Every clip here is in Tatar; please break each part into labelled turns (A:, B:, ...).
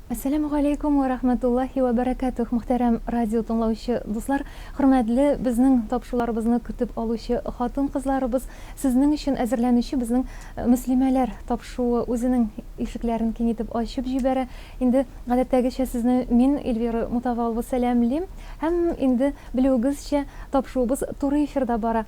A: Әссәләмү галәйкүм вә рәхмәтуллаһи вә бәрәкәтүһ, мөхтәрәм радио тыңлаучы дуслар, хөрмәтле безнең тапшуларыбызны көтеп алучы хатын-кызларыбыз, сезнең өчен әзерләнүче безнең Мөслимәләр тапшуы үзенең ишекләрен киң итеп ачып җибәрә. Инде гадәттәгечә сезне мин, Эльвира Мутавалова сәламлим. Һәм инде белүегезчә, тапшуыбыз туры эфирда бара.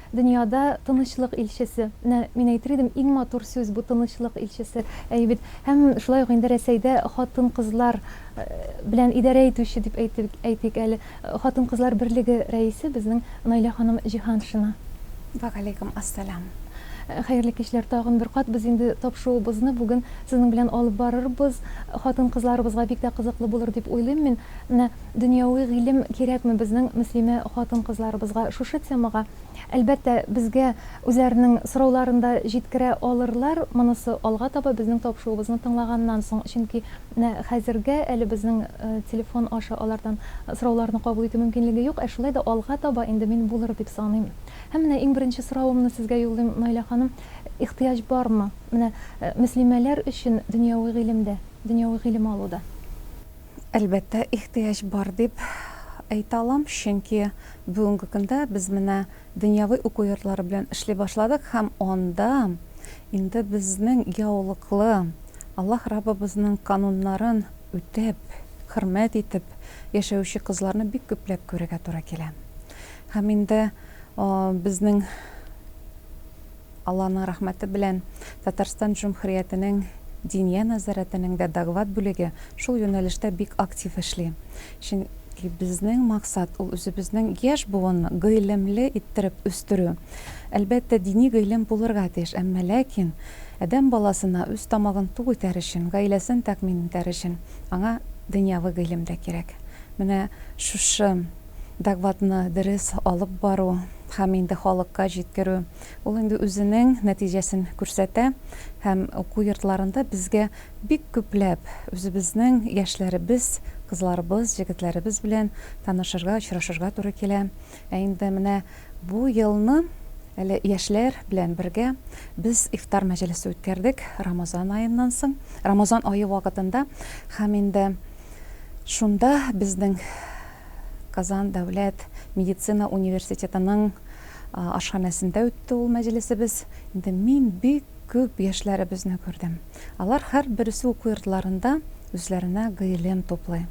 A: Дөньяда тынычлык илчесе. Менә мин әйтер идем, иң матур сүз бу тынычлык илчесе. Әйе бит. Һәм шулай ук инде Рәсәйдә хатын-кызлар белән идарә итүче дип әйтик, әйтик әле, хатын-кызлар берлеге рәисе безнең Наилә ханым Җиһаншина. Вә галәйкүм
B: ас-сәлам. Хәерле
A: кичләр тагын бер кат. Без инде тапшуыбызны бүген сезнең белән алып барырбыз. Хатын-кызларыбызга бик тә кызыклы булыр дип уйлыйм мин. Менә Дөньяви гыйлем кирәкме безнең мөслимә хатын-кызларыбызга? Шушы темага, әлбәттә, безгә үзләренең сорауларын да җиткерә алырлар, монысы алга таба, безнең табышуыбызны тыңлаганнан соң. Чөнки менә хәзергә әле безнең телефон аша алардан сорауларны кабул итү мөмкинлеге юк, ә шулай да алга таба инде мин булыр дип саныйм. Һәм менә иң беренче соравымны сезгә юллыйм, Наилә ханым, ихтыяҗ бармы менә мөслимәләр өчен дөньяви гыйлемдә, дөньяви гыйлем алуда? Әлбәттә,
B: ихтыяҗ бар дип әйтә алам, чөнки бүгенге көндә без менә дөньяви уку йортлары белән эшли башладык һәм анда инде безнең яулыклы, Аллаһ Раббыбызның кануннарын үтәп, хөрмәт итеп яшәүче кызларны бик күпләп күрергә туры килә. Һәм инде безнең. Алланың рәхмәте белән, Татарстан Җөмһүриятенең Диния нәзарәтенең дә доклад бүлеге шул юнәлештә бик актив эшли. Чөнки безнең максат, ул үзебезнең яшь буынны гыйлемле иттереп үстерү. Әлбәттә, дини гыйлем булырга тиеш, әмма ләкин адәм баласына үз тамагын тук итәр өчен, гаиләсен тәэмин итәр өчен аңа дөньяви гыйлем дә кирәк. Менә шушы докладны дөрес алып бару һәм инде халыкка җиткерү, Ул инде үзенең нәтиҗәсен күрсәтә һәм уку йортларында безгә бик күпләп үзебезнең яшьләребез, кызларыбыз, җегетләребез белән танышырга, очрашырга туры килә. Ә инде менә бу елны әле яшьләр белән бергә без ифтар мәҗлесе үткәрдек Рамазан аеннан соң, Рамазан ае вакытында һәм инде шунда безнең Казан дәүләт медицина университетының Ашханәсендә үтте ул мәҗлесебез. Инде мин бик күп яшьләребезне күрдем. Алар һәрберсе уку йортларында үзләренә гыйлем туплый.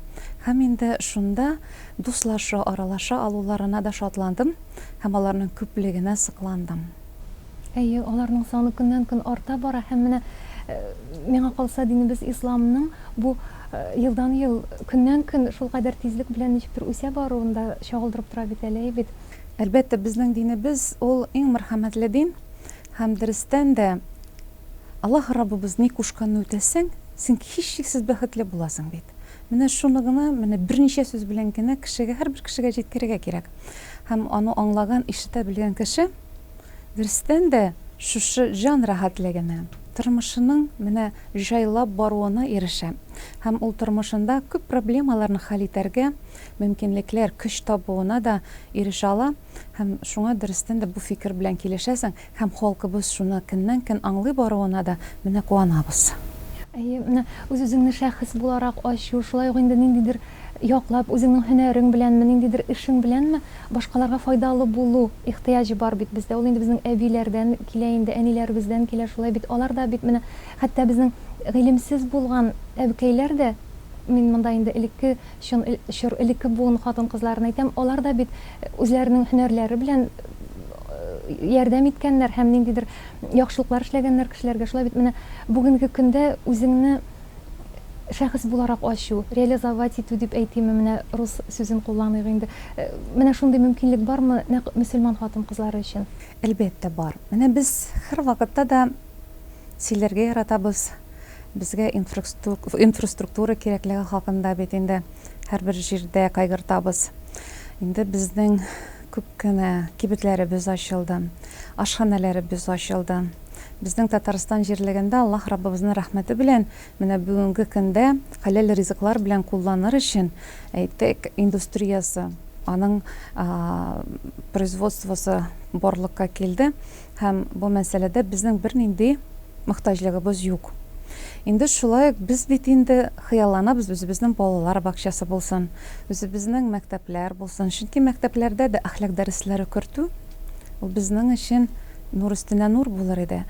B: Һәм инде шунда дуслаша, аралаша алуларына да шатландым һәм аларның күплегенә сокландым. Әйе,
A: аларның саны көннән-көн арта бара һәм менә, миңа калса, динебез исламның бу елдан-ел, көннән-көн шулкадәр тизлек белән ничектер үсә баруын да чагылдырып тора бит әле, әйе бит? Әлбәттә, безнең
B: динебез, ул иң мәрхәмәтле дин. Һәм дөрестән дә, Аллаһ Раббыбыз ни кушканны үтәсәң, син һичшиксез бәхетле буласың бит. Менә шуны гына, менә берничә сүз белән генә кешегә, һәрбер кешегә җиткерергә кирәк. Һәм аны аңлаган, ишетә белгән кеше, дөрестән дә, шушы җан рәхәтлегенә, тормышының менә җайлап баруына ирешә. Һәм ул тормышында күп проблемаларны хәл итәргә, мөмкинлекләр, көч табуына да ирешә ала һәм шуңа дөрестән дә бу фикер белән килешәсең һәм халкыбыз шуны көннән-көн аңлый баруына да менә куанабыз. Әйе, менә
A: үз-үзеңне шәхес буларак ачу, шулай ук инде ниндидер яклап, үзеңнең һөнәрең беләнме, ниндидер эшең беләнме башкаларга файдалы булу ихтыяҗы бар бит бездә. Ул инде безнең әбиләрдән килә инде, әниләребездән килә, шулай бит. Алар да бит менә хәтта безнең гыйлемсез булган әбекәйләр дә, мин монда инде элекке, Чын чор элекке буын хатын-кызларын әйтәм, алар да бит үзләренең һөнәрләре белән ярдәм иткәннәр һәм ниндидер яхшылыклар эшләгәннәр кешеләргә. Шулай бит менә бүгенге көндә үзеңне шәхес буларак ачу, реализовать итү дип әйтимме, менә рус сүзен кулланыйк инде. Менә шундый мөмкинлек бармы нәкъ мөселман хатын-кызлары өчен? Әлбәттә, бар.
B: Менә без һәрвакытта да сөйләргә яратабыз. Безгә инфраструктура кирәклеге хакында бит инде һәрбер җирдә кайгыртабыз. Инде безнең күп кенә кибетләребез ачылды, ашханәләребез ачылды. Безнең Татарстан җирлегендә Аллаһ Раббыбызның рәхмәте белән менә бүгенге көндә хәләл ризыклар белән кулланыр өчен, әйтик, индустриясе, аның производствосы барлыкка килде. Һәм бу мәсьәләдә безнең бернинди мохтаҗлыгыбыз юк. Инде шулай ук без бит инде хыялланабыз, үзебезнең балалар бакчасы булсын, үзебезнең мәктәпләр булсын. Чөнки мәктәпләрдә дә әхлак дәресләре кертү, ул безнең өчен нур өстенә нур булыр иде.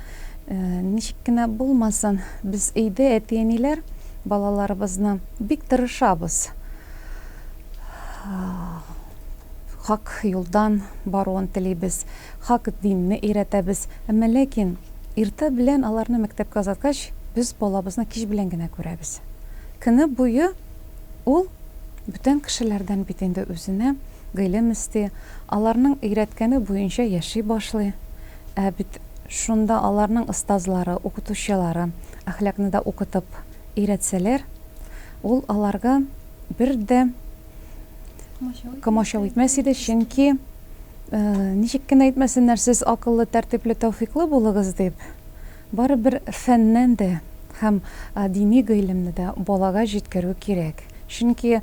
B: Ничек кенә булмасын, без өйдә әти-әниләр балаларыбызны бик тырышабыз. хак юлдан баруын телибез, хак динне өйрәтәбез. Әмма ләкин иртә белән аларны мәктәпкә озаткач, без балабызны кич белән генә күрәбез. Көне буе ул бүтән кешеләрдән бит инде үзенә гыйлем эсти, аларның өйрәткәне буенча яши башлый. Ә бит шунда аларның остазлары, укытучылары әхлакны да укытып өйрәтсәләр, ул аларга бер дә комачау итмәс иде, чөнки э, ничек кенә әйтмәсеннәр, сез акыллы, тәртипле, тәүфиклы булыгыз дип, барыбер фәннән дә һәм э, дини гыйлемне дә балага җиткерү кирәк. Чөнки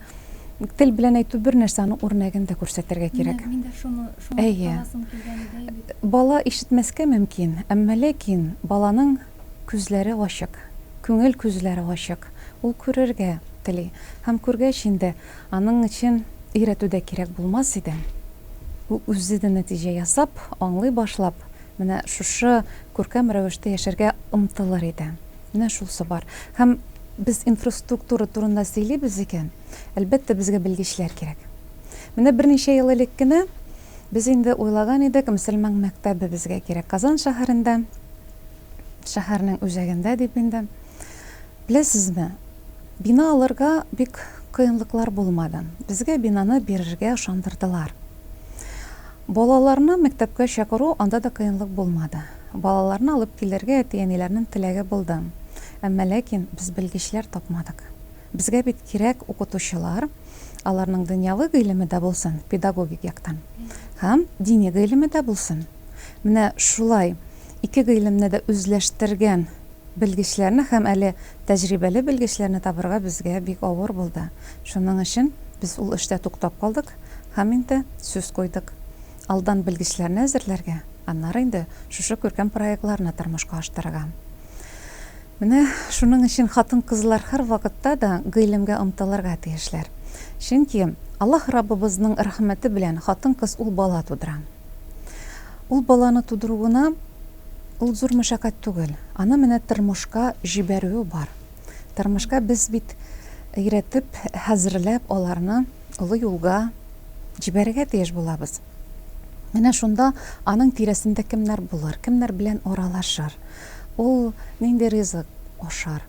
B: тел белән әйтү бер нәрсә, аның үрнәген дә күрсәтергә кирәк. Мин дә шуны
A: шуны Әйе. кыласым килгән иде. Бала ишетмәскә
B: мөмкин, әмма ләкин баланың Күзләре ачык. Күңел күзләре ачык. Ул күрергә тели. Һәм күргәч инде, аның өчен өйрәтү дә кирәк булмас иде. Ул үзе дә нәтиҗә ясап, аңлый башлап, менә шушы күркәм рәвештә яшәргә омтылыр иде. Менә шусы бар. Һәм без инфраструктура турында сөйлибез икән, әлбәттә, безгә белгечләр кирәк. Менә берничә ел элек кенә без инде уйлаган идек, мөселман мәктәбе безгә кирәк Казан шәһәрендә. шәһәрнең үзәгендә дип инде. Беләсезме, бина алырга бик кыенлыклар булмады. Безгә бинаны бирергә ышандырдылар. Балаларны мәктәпкә чакыру, анда да кыенлык булмады. Балаларны алып килергә әти-әниләрнең теләге булды. Әмма ләкин без белгечләр тапмадык. Безгә бит кирәк укытучылар, аларның дөньяви гыйлеме дә булсын, педагогик яктан, һәм дини гыйлеме дә булсын. Менә шулай ике гыйлемне дә үзләштергән белгечләрне һәм әле тәҗрибәле белгечләрне табырга безгә бик авыр булды. Шуның өчен без ул эштә туктап калдык һәм инде сүз куйдык. Алдан белгечләрне әзерләргә, аннары инде шушы күркәм проектларны тормышка аштырырга. Менә шуның өчен хатын-кызлар һәрвакытта да гыйлемгә омтылырга тиешләр. Чөнки Аллаһ Раббыбызның рәхмәте белән хатын-кыз ул бала тудыра. Ул баланы тудыру гына ул зур мәшәкать түгел, аны менә тормышка җибәрүе бар. Тормышка без бит өйрәтеп, хәзерләп аларны олы юлга җибәрергә тиеш булабыз. Менә шунда аның тирәсендә кемнәр булыр, кемнәр белән аралашыр, ул нинди ризык ашар,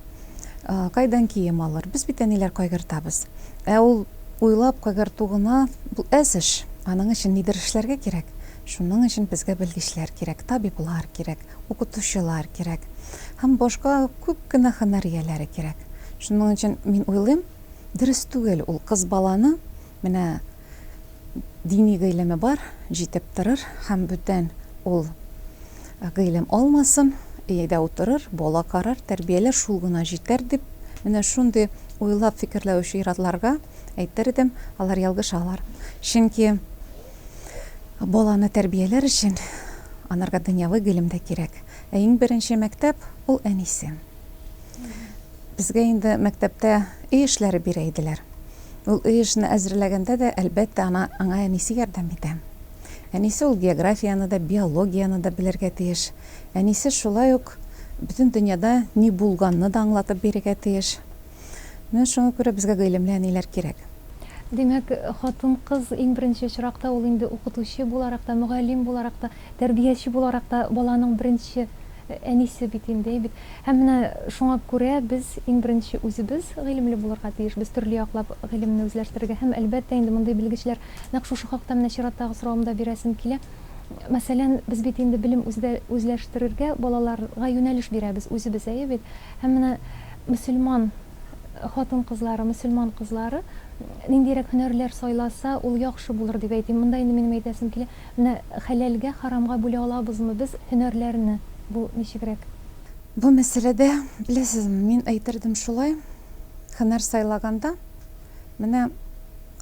B: кайдан кием алыр, без бит әниләр кайгыртабыз. Ә ул уйлап кайгырту гына бу әз эш, аның өчен нидер эшләргә кирәк. Шуның өчен безгә белгечләр кирәк, табиблар кирәк. укытучылар кирәк һәм башка күп кенә һөнәр ияләре кирәк. Шуның өчен мин уйлыйм, дөрес түгел ул кыз баланы менә дини гыйлеме бар, җитеп торыр һәм бүтән ул гыйлем алмасын, өйдә утырыр, бала карар, тәрбияләр, шул гына җитәр дип, менә шундый уйлап фикерләүче ир-атларга әйтер идем, алар ялгышалар. Чөнки. Баланы тәрбияләр өчен анарга дөньяви гыйлем дә кирәк. Ә иң беренче мәктәп ул әнисе. Безгә инде мәктәптә өй эшләре бирә иделәр. Ул өй эшне әзерләгәндә дә, әлбәттә, ана, аңа әнисе ярдәм итә. Әнисе ул географияне дә, биологияне дә белергә тиеш. Әнисе шулай ук бөтен дөньяда ни булганны да аңлатып бирергә тиеш. Менә шуңа күрә безгә гыйлемле әниләр кирәк. Димәк,
A: хатын-кыз иң беренче очракта ул инде укытучы буларак та, мөгаллим буларак та, тәрбияче буларак та баланың беренче әнисе бит инде, әй бит. Һәм менә шуңа күрә без иң беренче үзебез гыйлемле булырга тиешбез, төрле яклап гыйлемне үзләштерергә. Һәм, әлбәттә, инде мондый белгечләр, нәкъ шушы хакта менә чираттагы соравымда бирәсем килә. Мәсәлән, без бит инде белем үзләштерергә балаларга юнәлеш бирәбез үзебез, әйе бит? Һәм менә Мөселман хатын-кызлары, мөселман кызлары ниндирәк һөнәрләр сайласа, ул яхшы булыр дип әйтим. Монда инде минем әйтәсем килә, менә хәләлгә харамга бүлә алабызмы без һөнәрләрне? Бу ничегрәк?
B: Бу мәсьәләдә, беләсезме, мин әйтердем шулай, һөнәр сайлаганда, менә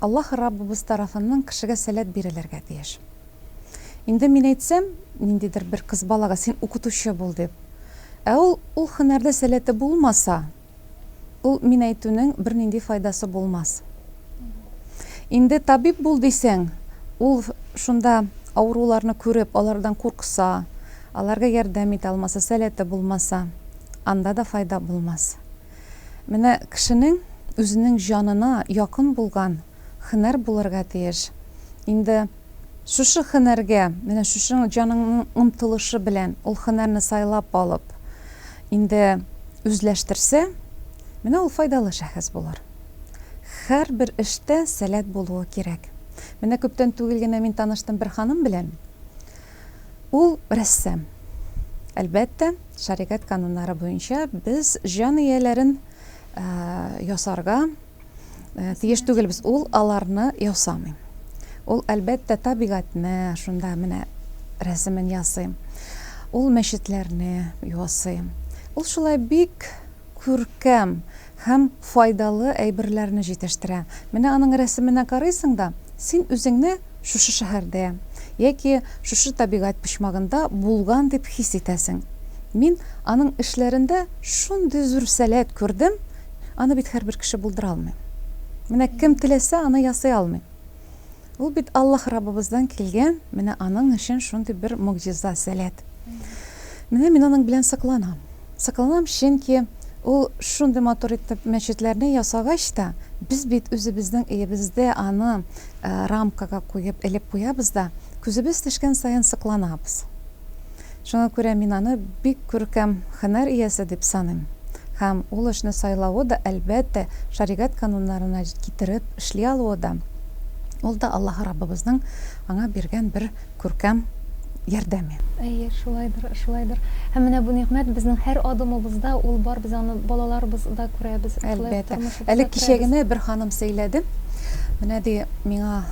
B: Аллаһ Раббыбыз тарафыннан кешегә сәләт бирелергә тиеш. Инде мин әйтсәм, ниндидер бер кыз балага, син укытучы бул дип. Ә ул, ул хөнәрдә сәләте булмаса, ул мин әйтүнең бернинди файдасы булмас. Инде табиб бул дисәң, ул шунда авыруларны күреп, алардан куркса, аларга ярдәм итә алмаса, сәләте булмаса, анда да файда булмас. Менә кешенең үзенең җанына якын булган хөнәр булырга тиеш. Инде Шушы һөнәргә, менә шушы җаныңның омтылышы белән ул һөнәрне сайлап алып, инде үзләштерсә, менә ул файдалы шәхес булыр. Һәрбер эштә сәләт булуы кирәк. Менә күптән түгел генә мин таныштым бер ханым белән. Ул рәссам. Әлбәттә, шәригать кануннары буенча без җан ияләрен ясарга, Э, тиеш түгел без ул аларны ясамыйм ул әлбәттә табигатьне шунда менә рәсемен ясыйм ул мәчетләрне ясыйм ул шулай бик күркәм һәм файдалы әйберләрне җитештерә менә аның рәсеменә карыйсың да син үзеңне шушы шәһәрдә яки шушы табигать почмагында булган дип хис итәсең мин аның эшләрендә шундый зур сәләт күрдем Аны бит һәрбер кеше булдыра алмый. Менә кем теләсә, аны ясый алмый. Ул бит Аллаһ Раббыбыздан килгән, менә аның өчен шундый бер могҗиза, сәләт. Менә мин аның белән сокланам. Сокланам, чөнки ул шундый матур итеп мәчетләрне ясагач та, без бит үзебезнең өебездә аны рамкага куеп, элеп куябыз да, күзебез төшкән саен сокланабыз. Шуңа күрә мин аны бик күркәм һөнәр иясе дип саныйм. Һәм ул эшне сайлавы да, әлбәттә, шәригать кануннарына китереп эшли алуы да, ул да Аллаһ Раббыбызның аңа биргән бер күркәм ярдәме. Әйе, шулайдыр,
A: шулайдыр. Һәм менә бу нигъмәт безнең һәр адымыбызда ул бар, без аны балаларыбыз да күрәбез, шулай ук тормышыбызда күрәбез. Әлбәттә. Әле
B: кичә генә бер ханым сөйләде. Менә ди, миңа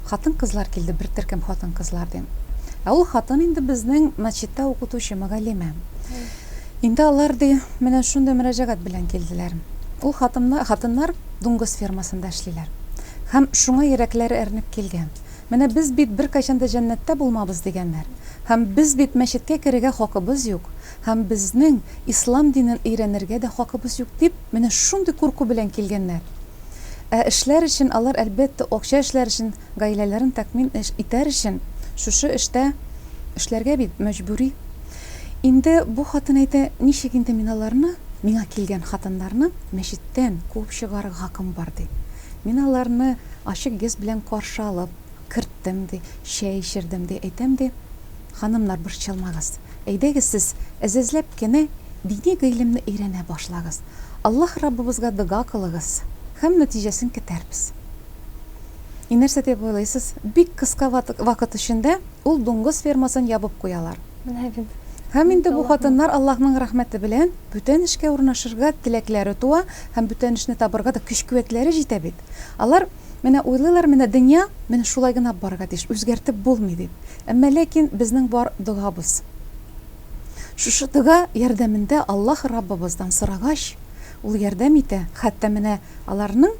B: Хатын-кызлар килде, бер төркем хатын-кызлар, дим. Ә ул хатын инде безнең мәчеттә укытучы, мөгаллимә. Инде алар, ди, менә шундый мөрәҗәгать белән килделәр. Ул хатыннар, хатыннар дуңгыз фермасында эшлиләр. Һәм шуңа йөрәкләре әрнеп килгән. Менә без бит беркайчан да җәннәттә булмабыз, дигәннәр. Һәм без бит мәчеткә керергә хакыбыз юк, һәм безнең ислам динен өйрәнергә дә хакыбыз юк, дип, менә шундый курку белән килгәннәр. Ә эшләр өчен алар, әлбәттә, акча эшләр өчен, гаиләләрен тәкъмин итәр өчен шушы эштә эшләргә бит мәҗбүри. Инде бу хатын әйтә, Ничек инде мин аларны, миңа килгән хатыннарны мәчеттән куып чыгарырга хакым бар, ди. Мин аларны ачык йөз белән каршы алып, Керттем, ди, чәй эчердем, ди, әйтәм, ди, Ханымнар, борчылмагыз. Әйдәгез сез, әзәзләп кенә дини гыйлемне өйрәнә башлагыз. Аллаһ Раббыбызга дога кылыгыз, һәм нәтиҗәсен көтәрбез. И нәрсә дип уйлыйсыз? Бик кыска вакыт эчендә ул дуңгыз фермасын ябып куялар. Менә бит.
A: Һәм инде бу
B: хатыннар Аллаһның рәхмәте белән бүтән эшкә урнашырга теләкләре туа һәм бүтән эшне табырга да көч-куәтләре җитә бит. Алар Менә уйлыйлар, менә дөнья, менә шулай гына барырга тиеш, үзгәртеп булмый дип. Әмма ләкин безнең бар догабыз. Шушы дога ярдәмендә Аллаһ Раббыбыздан сорагач, Ул ярдәм итә. Хәтта менә аларның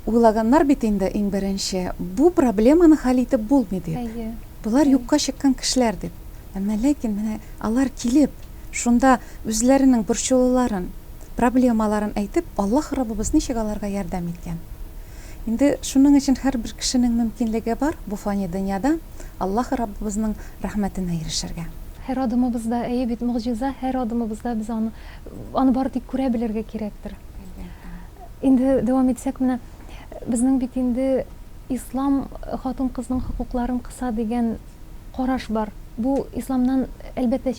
B: уйлаганнар бит инде иң беренче, бу проблеманы хәл итеп булмый дип. Әйе. Болар юкка
A: чыккан
B: кешеләр дип. Әмма ләкин менә алар килеп, шунда үзләренең борчулыларын, Проблемаларын әйтеп, Аллаһ Раббыбыз ничек аларга ярдәм иткән? Инде шуның өчен һәрбер кешенең мөмкинлеге бар бу фани дөньяда Аллаһ Раббыбызның рәхмәтенә ирешергә. Һәр адымыбызда,
A: әйе бит, могҗиза, һәр адымыбызда без аны, аны бары тик күрә белергә кирәктер. Әлбәттә. Инде дәвам итсәк, менә безнең бит инде Ислам хатын-кызның хокукларын кыса дигән караш бар. Бу исламнан, әлбәттә,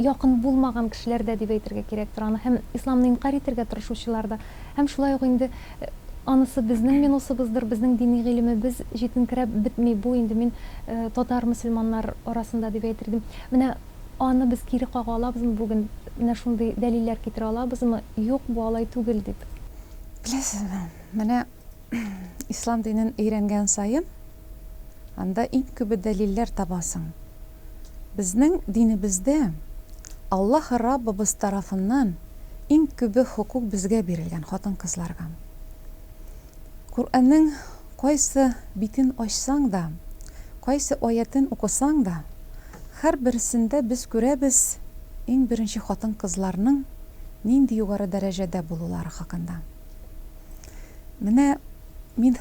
A: якын булмаган кешеләр дә дип әйтергә кирәктер аны, һәм исламны инкарь итәргә тырышучылар да. Һәм шулай ук инде анысы безнең минусыбыздыр, безнең дини гыйлемебез җитенкерәп бетми, бу инде мин татар мөселманнар арасында дип әйтер идем. Менә аны без кире кага алабызмы бүген, менә шундый дәлилләр китерә алабызмы, юк, бу алай түгел дип? Беләсезме,
B: менә ислам динен өйрәнгән саен, Анда иң күбе дәлилләр табасың. Безнең динебездә Аллаһ Раббыбыз тарафыннан иң күбе хокук безгә бирелгән, хатын-кызларга. Коръәннең кайсы битен ачсаң да, кайсы аятен укысаң да, һәрберсендә без күрәбез иң беренче хатын-кызларның нинди югары дәрәҗәдә булулары хакында. Менә мин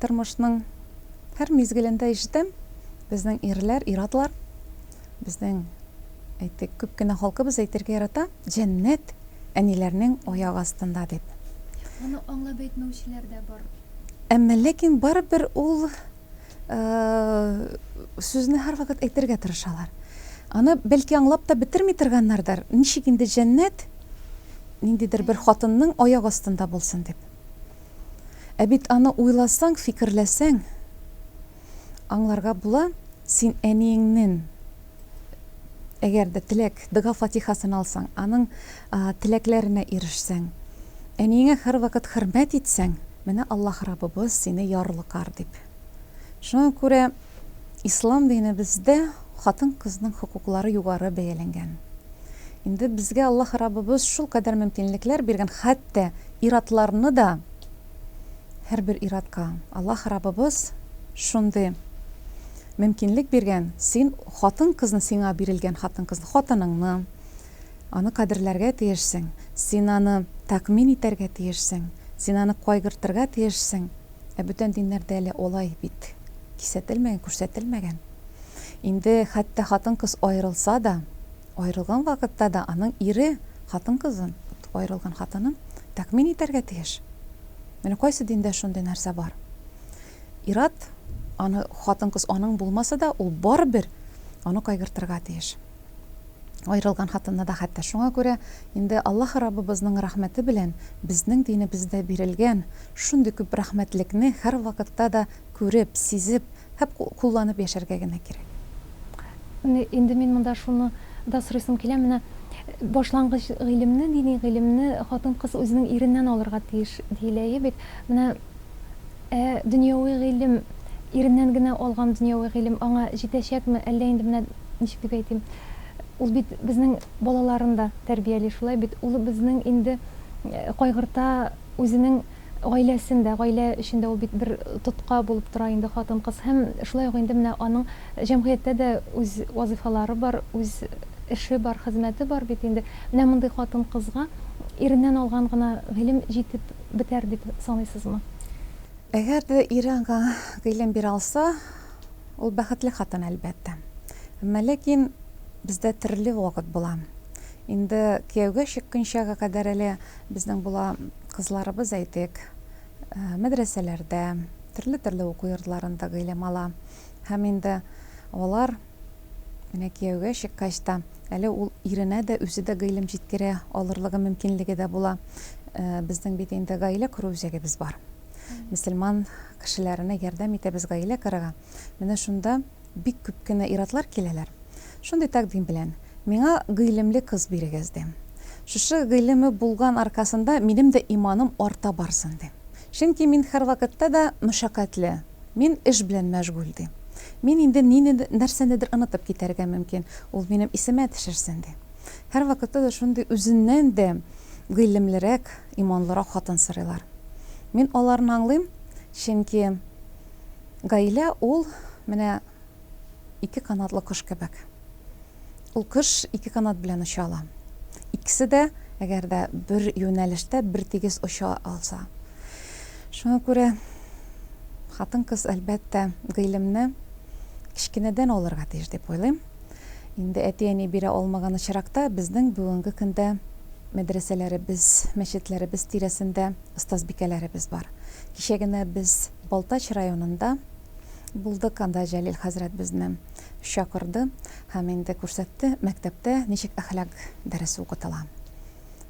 B: Тормышның һәр мизгелендә ишетәм, безнең ирләр, ир-атлар, безнең, әйтик, күп кенә халкыбыз әйтергә ярата, җәннәт әниләрнең аяк астында дип. Моны аңлап
A: әйтмәүчеләр дә бар. Әмма ләкин
B: барыбер ул сүзне һәрвакыт әйтергә тырышалар. Аны бәлки аңлап та бетерми торганнардыр, ничек инде җәннәт ниндидер бер хатынның аяк астында булсын дип. Ә бит аны уйласаң, фикерләсәң, аңларга була, син әниеңнен әгәр дә теләк, дога-фатихасын алсаң, аның теләкләренә ирешсәң, әниеңә һәрвакыт хөрмәт итсәң, менә Аллаһ Раббыбыз сине ярлыкар дип. Шуңа күрә. Ислам динебездә хатын-кызның хокуклары югары бәяләнгән. Инде безгә Аллаһ Раббыбыз шулкадәр мөмкинлекләр биргән, хәтта ир-атларны да, һәрбер ир-атка Аллаһ Раббыбыз шундый мөмкинлек биргән, син хатын-кызны, сиңа бирелгән хатын-кызны, хатыныңны, аны кадерләргә тиешсең, син аны тәэмин итәргә тиешсең, син аны кайгыртырга тиешсең. Ә бүтән диннәрдә әле алай бит кисәтелмәгән, күрсәтелмәгән. Инде хәтта хатын-кыз аерылса да, аерылган вакытта да аның ире хатын-кызын, аерылган хатынын тәкъмин итәргә тиеш. Менә кайсы диндә шундый нәрсә бар? Ир-ат, аны хатын-кыз аның булмаса да, ул барыбер аны кайгыртырга тиеш. Аерылган хатынны да хәтта шуңа күрә инде Аллаһ Раббыбызның рәхмәте белән безнең динебездә бирелгән шундый күп рәхмәтлекне һәрвакытта да күреп, сизеп һәп кулланып яшәргә генә кирәк.
A: Инде мин монда шуны да сорыйсым килә, менә башлангыч гыйлемне, дини гыйлемне хатын-кыз үзенең иреннән алырга тиеш, диелә, әйе бит? Менә. Ә дөньяви гыйлем, иреннән генә алган дөньяви гыйлем аңа җитәчәкме, әллә инде менә, ничек дип әйтим, ул бит безнең балаларын да тәрбияли, шулай бит, ул безнең инде кайгырта үзенең гаиләсен дә, гаилә өчен дә ул бит бер тотка булып тора инде хатын-кыз һәм шулай ук инде менә аның җәмгыятьтә дә үз вазыйфалары бар, үз эше бар, хезмәте бар бит инде. Менә мондый хатын-кызга иреннән алган гына гыйлем җитеп. бетәр дип саныйсызмы? Әгәр
B: дә ире аңа гыйлем бирә алса, ул бәхетле хатын, әлбәттә. Әмма ләкин бездә төрле вакыт була. Инде кияүгә чыкканчага кадәр әле безнең була кызларыбыз, әйтик, мәдрәсәләрдә, төрле-төрле уку йортларында гыйлем ала. Һәм инде алар. Менә кияүгә чыккач та, әле ул иренә дә, үзе дә гыйлем җиткерә алырлыгы мөмкинлеге дә була. Безнең бит инде гаилә кору үзәгебез бар. Мөселман кешеләренә ярдәм итәбез гаилә корырга. Менә шунда бик күп кенә ир-атлар киләләр. Шундый тәкъдим белән, Миңа гыйлемле кыз бирегез, дим. Шушы гыйлеме булган аркасында минем дә иманым арта барсын, дим. Чөнки мин һәрвакытта да мәшәкатьле. Мин эш белән мәшгуль, ди. Мин инде нинедер, нәрсәнедер онытып китәргә мөмкин. Ул минем исемә төшерсен, ди. Һәрвакытта да шундый үзеннән дә гыйлемлерәк, иманлырак хатын сорыйлар. Мин аларны аңлыйм, чөнки гаилә ул, менә, ике канатлы кош кебек. Ул кош ике канат белән оча ала. Икесе дә, әгәр дә бер юнәлештә бертигез оча алса. Шуңа күрә хатын-кыз, әлбәттә, гыйлемне кечкенәдән алырга тиеш дип уйлыйм. Инде әти-әни бирә алмаган очракта, безнең бүгенге көндә мәдрәсәләребез, мәчетләребез тирәсендә остазбикәләребез бар. Кичә генә без Балтач районында Булдык анда Җәлил хәзрәт безне чакырды һәм инде күрсәтте, мәктәптә ничек әхлак дәресе укытыла.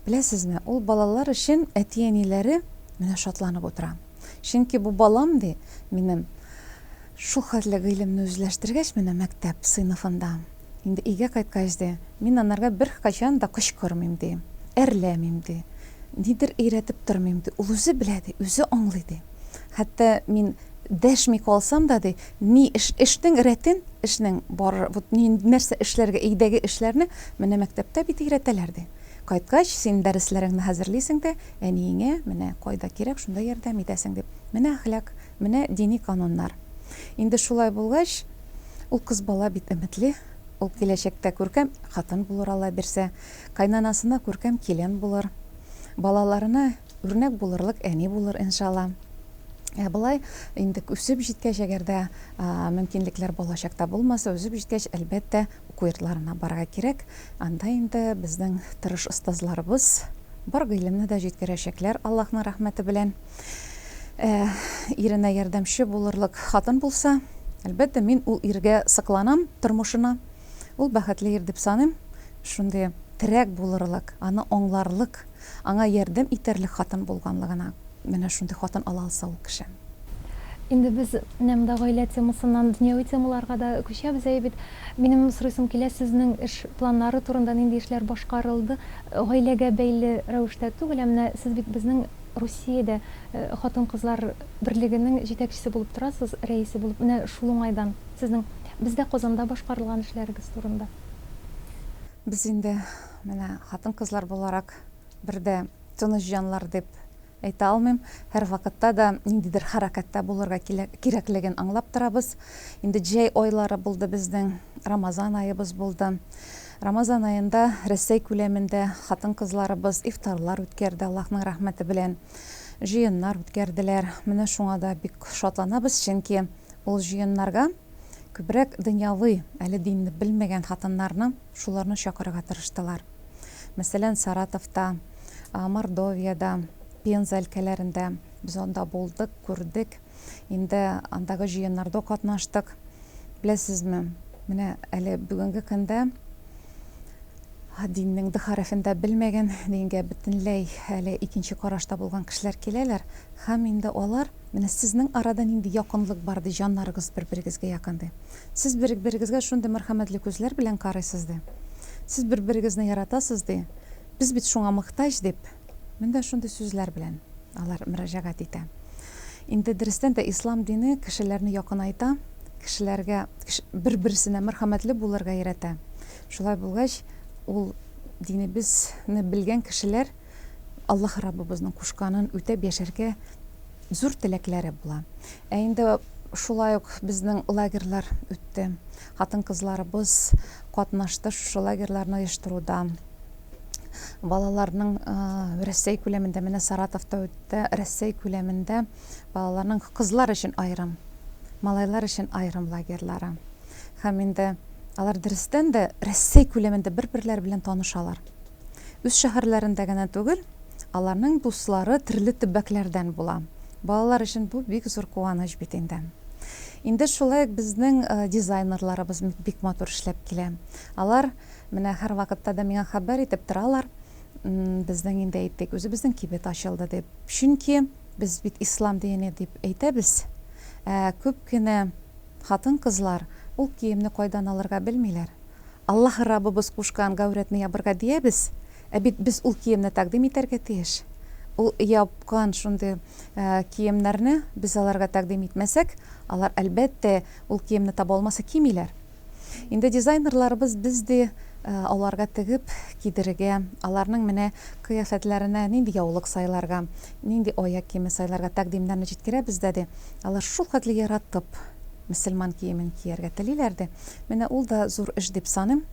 B: Беләсезме, ул балалар өчен әти-әниләре менә шатланып утыра. Чөнки бу балам, ди, минем шулхәтле гыйлемне үзләштергәч, менә мәктәп сыйныфында. Инде өйгә кайткач, ди, мин анарга беркайчан да кычкырмыйм, ди, әрләмим, ди, нидер өйрәтеп тормыйм, ди, ул үзе белә, ди, үзе аңлый, ди. Хәтта мин дәшми калсам да, ди, ни эш, эшнең рәтен, эшнең бар, вот ни, нәрсә эшләргә, өйдәге эшләрне менә мәктәптә бит өйрәтәләр, ди. Кайткач, син дәресләреңне хәзерлисең дә, әниеңә менә кайда кирәк, шунда ярдәм итәсең, дип, менә әхлак, Менә дини кануннар. Инде шулай булгач, ул кыз бала бит өметле, ул киләчәктә күркәм хатын булыр Алла бирсә, кайнанасына күркәм килен булыр, балаларына үрнәк булырлык әни булыр иншалла. Ә болай инде үсеп җиткәч, әгәр дә мөмкинлекләр балачакта булмаса, үсеп җиткәч, әлбәттә, уку йортларына барырга кирәк. Анда инде безнең тырыш остазларыбыз бар гыйлемне дә җиткерәчәкләр Аллаһның рәхмәте белән. Ә, иренә ярдәмче булырлык хатын булса, әлбәттә, мин ул иргә сокланам, тормышына. Ул бәхетле ир дип саныйм. Шундый терәк булырлык, аны аңларлык, аңа ярдәм итәрлек хатын булганлыгына. Менә шундый хатын ала алса ул кеше. Инде
A: без менә монда гаилә темасыннан дөньяви темаларга да күчәбез, әйе бит? Минем сорыйсым килә, сезнең эш планнары турында, нинди эшләр башкарылды? Гаиләгә бәйле рәвештә түгел, ә менә сез бит безнең Русиядә хатын-кызлар берлегенең җитәкчесе булып торасыз, рәисе булып. Менә шул уңайдан сезнең бездә Казанда башкарылган эшләрегез турында.
B: Без инде менә хатын-кызлар буларак бер дә тыныч җаннар дип әйтә алмыйм. Һәрвакытта да ниндидер хәрәкәттә булырга кирәклеген аңлап торабыз. Инде җәй айлары булды безнең, Рамазан аебыз булды. Рамазан аенда Рәсәй күләмендә хатын-кызларыбыз ифтарлар үткәрде, Аллаһның рәхмәте белән, җыеннар үткәрделәр. Менә шуңа да бик шатланабыз, чөнки ул җыеннарга күбрәк дөньяви, әле динне белмәгән хатыннарны, шуларны чакырырга тырыштылар. Мәсәлән, Саратовта, Мордовиядә, Пенза өлкәләрендә без анда булдык, күрдек. инде андагы җыеннарда катнаштык. Беләсезме, менә әле бүгенге көндә диннең д хәрефен дә белмәгән, дингә бөтенләй әле икенче карашта булган кешеләр киләләр һәм инде алар, Менә сезнең арада нинди якынлык бар, ди, җаннарыгыз бер-берегезгә якын, ди. Сез бер-берегезгә шундый мәрхәмәтле күзләр белән карыйсыз, ди. Сез бер-берегезне яратасыз, ди. Без бит шуңа мохтаҗ, дип, менә шундый сүзләр белән. Алар мөрәҗәгать итә. Инде дөрестән дә ислам дине кешеләрне якынайта, кешеләргә, бер-берсенә мәрхәмәтле булырга өйрәтә. Шулай булгач, ул динебезне белгән кешеләр Аллаһ Раббыбызның кушканын үтәп яшәргә зур теләкләре була. Ә инде шулай ук безнең лагерьлар үтте. Хатын-кызларыбыз катнашты шушы лагерьларны оештыруда. балаларның Рәсәй күләмендә, менә Саратовта үтте, Рәсәй күләмендә балаларның кызлар өчен аерым, малайлар өчен аерым лагерьлары. Һәм инде алар дөрестән дә Рәсәй күләмендә бер-берләре белән танышалар. Үз шәһәрләрендә генә түгел, аларның дуслары төрле төбәкләрдән була. Балалар өчен бу бик зур куаныч бит инде. Инде шулай ук безнең дизайнерларыбыз бик матур эшләп килә. Алар Менә һәрвакытта да миңа хәбәр итеп торалар, безнең инде әйттек, үзебезнең кибет ачылды дип. Чөнки без бит ислам дине дип әйтәбез. Ә күп кенә хатын-кызлар ул киемне кайдан алырга белмиләр. Аллаһы Раббыбыз кушкан гаурәтне ябырга диябез, ә бит без ул киемне тәкъдим итәргә тиеш. Ул япкан шундый киемнәрне без аларга тәкъдим итмәсәк, алар, әлбәттә, ул киемне таба алмаса кимиләр. Инде дизайнерларыбыз без ди аларга тегеп кидерергә, аларның менә кыяфәтләренә нинди яулык сайларга, нинди аяк киеме сайларга тәкъдимнәрне җиткерәбез дә ди, алар шулкадәр яратып мөселман киемен кияргә телиләр ди. Менә ул да зур эш дип саныйм,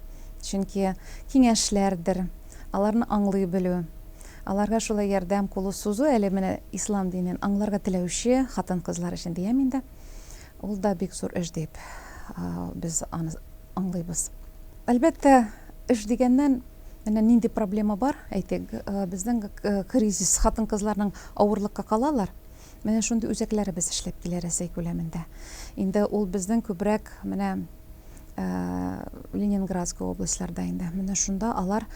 B: чөнки киңәшләрдер, аларны аңлый белү, аларга шулай ярдәм кулы сузу әле менә ислам динен аңларга теләүче хатын-кызлар өчен диям инде. Ул да бик зур эш дип, без аны аңлыйбыз. Әлбәттә, эш дигәннән, менә нинди проблема бар, әйтик, безнең кризис, хатын-кызларның авырлыкка калалар. Менә шундый үзәкләре без эшләп килә Рәсәй күләмендә. Инде ул безнең күбрәк менә Ленинградская областьларда инде. Менә шунда алар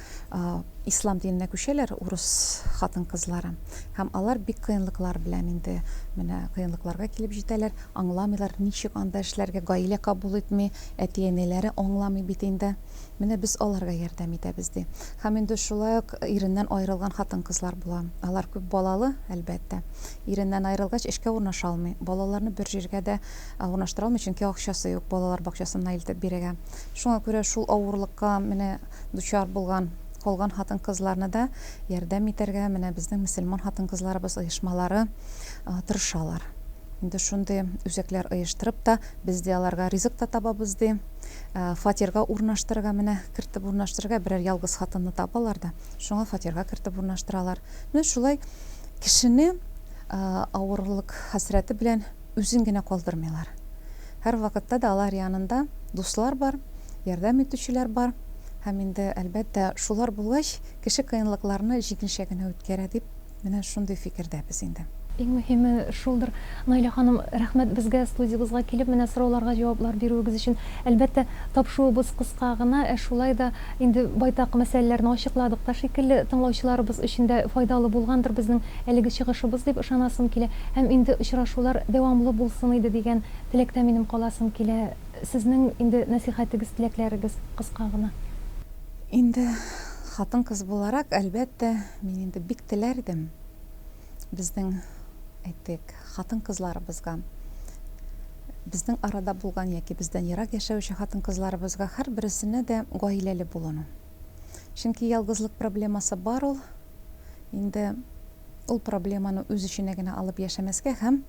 B: ислам диненә күчәләр, урыс хатын-кызлары. Һәм алар бик кыенлыклар белән инде менә кыенлыкларга килеп җитәләр, аңламыйлар, ничек анда эшләргә, гаилә кабул итми, әти-әниләре аңламый бит инде. Менә без аларга ярдәм итәбез, ди. Һәм инде шулай ук иреннән аерылган хатын-кызлар була. Алар күп балалы, әлбәттә. Иреннән аерылгач, эшкә урнаша алмый. Балаларны бер җиргә дә урнаштыра алмый, чөнки акчасы юк балалар бакчасына илтеп бирергә. Шуңа күрә шул авырлыкка менә дучар булган, калган хатын-кызларны да ярдәм итәргә менә безнең мөселман хатын-кызларыбыз оешмалары тырышалар. Инде шундый үзәкләр оештырып та, без дә аларга ризык та табабыз, ди. Фатирга урнаштырырга менә, кертеп урнаштырырга берәр ялгыз хатынны табалар да, шуңа фатирга кертеп урнаштыралар. Менә шулай кешене авырлык хәсрәте белән. Үзен генә калдырмыйлар. Һәрвакытта да алар янында дуслар бар, ярдәм итүчеләр бар. Һәм инде, әлбәттә, шулар булгач, кеше кыенлыкларны җиңелчә генә үткәрә, дип, менә шундый фикердәбез инде. Иң мөһиме
A: шулдыр. Наилә ханым, рәхмәт безгә, студиябызга килеп, менә сорауларга җаваплар бирүегез өчен. Әлбәттә, тапшуыбыз кыска гына, ә шулай да, Инде байтак мәсьәләләрне ачыкладык та шикелле, тыңлаучыларыбыз өчен дә файдалы булгандыр безнең әлеге чыгышыбыз дип ышанасым килә. Һәм инде очрашулар дәвамлы булсын иде дигән теләктә минем каласым килә. Сезнең инде нәсыйхәтегез, теләкләрегез кыска гына. Инде
B: хатын-кыз буларак, әлбәттә, мин инде бик теләр идем. Безнең, әйтик, хатын-кызларыбызга, безнең арада булган яки бездән ерак яшәүче хатын-кызларыбызга һәрбересенә дә гаиләле булуны. Чөнки ялгызлык проблемасы бар ул. Инде ул проблеманы үз эченә генә алып яшәмәскә һәм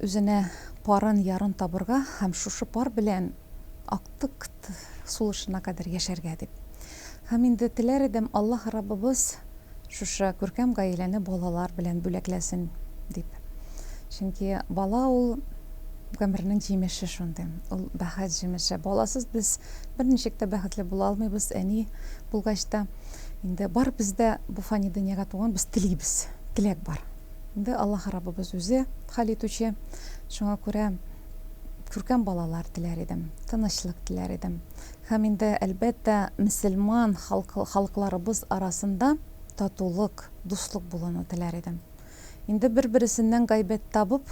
B: Үзенә парын, ярын табырга һәм шушы пар белән актыкт сулышына кадәр яшәргә дип. Һәм инде теләр идем, Аллаһ Раббыбыз шушы күркәм гаиләне балалар белән бүләкләсен, дип. Чөнки бала ул, гомернең җимеше шундый. Ул, бәхет җимеше. Баласыз без берничек тә бәхетле була алмыйбыз, әни булгач та. Инде барыбыз да бу фани дөньяга туган, без телибез, теләк бар. Инде Аллаһ Раббыбыз үзе хәл итүче, шуңа күрә күркәм балалар теләр идем, тынычлык теләр идем. Һәм инде, әлбәттә, мөселман халыкларыбыз арасында татулык, дуслык булуны теләр идем. Инде бер-бересеннән гайбәт табып,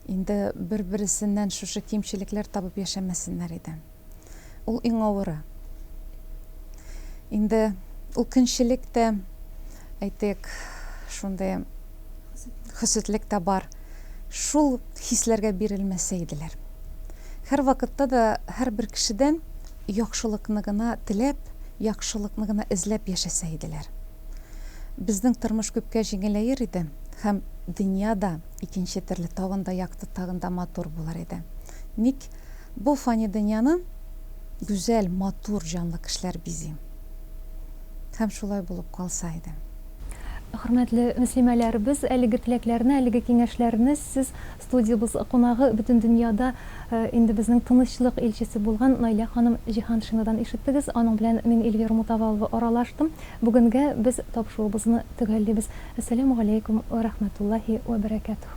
B: инде бер-бересеннән шушы кимчелекләр табып яшәмәсеннәр иде. Ул иң авыры. Инде ул көнчелек тә, әйтик, шундый хөсетлек тә бар. Шул хисләргә бирелмәсә иделәр. Һәрвакытта да һәрбер кешедән яхшылыкны гына теләп, яхшылыкны гына эзләп яшәсә иделәр. Безнең тормыш күпкә җиңеләер иде һәм дөнья да икенче төрле, тагын да якты, тагын да матур булыр иде. Ник? Бу фани дөньяны гүзәл, матур, җанлы кешеләр бизи. Һәм шулай булып калса иде. Хөрмәтле
A: мөслимәләребез, әлеге теләкләрне, әлеге киңәшләрне сез, студиябыз кунагы, бөтен дөньяда инде безнең тынычлык илчесе булган Наилә ханым Җиһаншинадан ишеттегез. Аның белән мин, Эльвира Мутавалова, аралаштым. Бүгенгә без тапшуыбызны төгәллибез. Әссәләмү галәйкүм вә рәхмәтуллаһи вә бәрәкәтүһ.